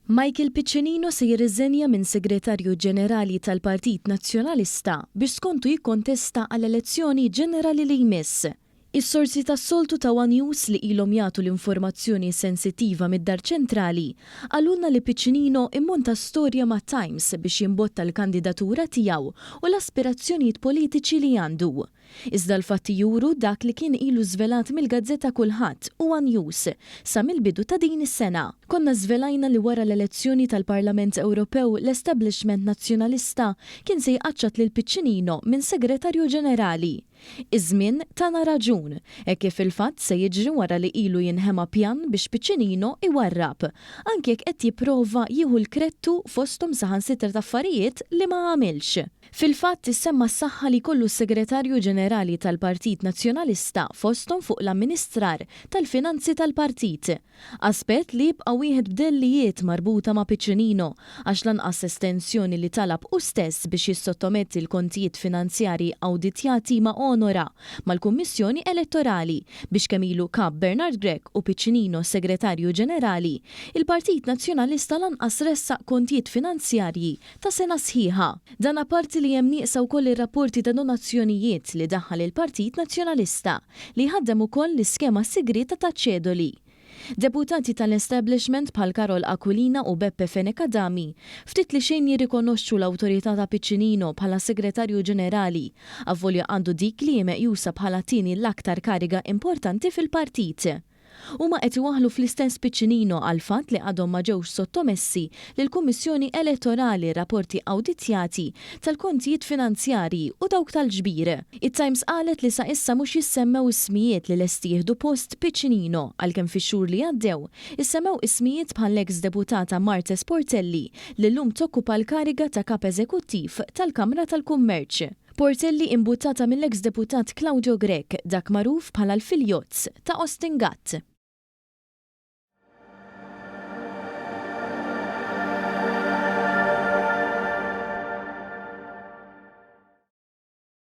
Michael Piccinino se jirriżenja minn Segretarju Ġenerali tal-Partit Nazzjonalista biex skontu jikkontesta għall-elezzjoni ġenerali li jmiss. Is-sorsi tas-soltu ta' one News li ilhom jagħtu l-informazzjoni sensittiva mid-Dar Ċentrali qalulna li Piccinino immonta storja ma' Times biex jimbotta l-kandidatura tiegħu u l-aspirazzjonijiet politiċi li għandu. Iżda l-fatti juru dak li kien ilu żvelat mill-gazzetta Kulħadd Huwa News sa mill-bidu ta' din is-sena. Konna żvelajna li wara l-elezzjoni tal-Parlament Ewropew l-establishment Nazzjonalista kien se jqaċċat lil Piccinino minn Segretarju Ġenerali. Iż-żmien tana raġun, hekk kif fil-fatt se jiġri wara li ilu jinħema pjan biex Piccinino jwarrab, anki jekk qed jipprova jieħu l-krettu fosthom saħansitra t'affarijiet li ma għamilx. Fil-fatt, issemma s-saħħa li jkollu s-Segretarju Ġenerali tal-Partit Nazzjonalista fosthom fuq l-amministrar tal-finanzi tal-partit. Aspett li jibqa' wieħed b'dellijiet marbuta ma' Piccinino għax lanqas estensjoni li talab hu stess biex jissottometti l-kontijiet finanzjarji awditjati ma onora mal-Kummissjoni Elettorali biex kemm ilu Kap Bernard Grech u Piccinino Segretarju Ġenerali il-Partit Nazzjonalista lanqas ressaq kontijiet finanzjarji ta' sena sħiħa. Dan apparti li hemm nieqsa wkoll ir-rapporti ta' donazzjonijiet li daħħal il-Partit Nazzjonalista, li jħaddem ukoll l-iskema sigrieta taċ-ċedoli. Deputati tal-establishment bħal Karol Aquilina u Beppe Fenech Adami ftit li xejn jirrikonoxxu l-awtorità ta' Piccinino bħala Segretarju Ġenerali, avolja għandu dik li hi meqjusa bħala t-tieni l-aktar kariga importanti fil-Partit. Huma qed iwaħħlu fl-istess piccinino għall-fatt li għadhom ma ġewx sottomessi lill-Kummissjoni Elettorali rapporti awditjati tal-kontijiet finanzjarji u dawk tal-ġbir. It-Times qalet li sa issa mhux jissemmew ismijiet li lesti jieħdu post Piccinino għalkemm fix-xhur li għaddew issemmew ismijiet bħall-eks deputata Marthe Sportelli li llum tokkupa l-kariga ta' Kap Eżekuttiv tal-Kamra tal-Kummerċ. Portelli imbuttata mill-eks deputat Claudio Grech, dak magħruf bħala l-Filjots ta' Austin Gatt.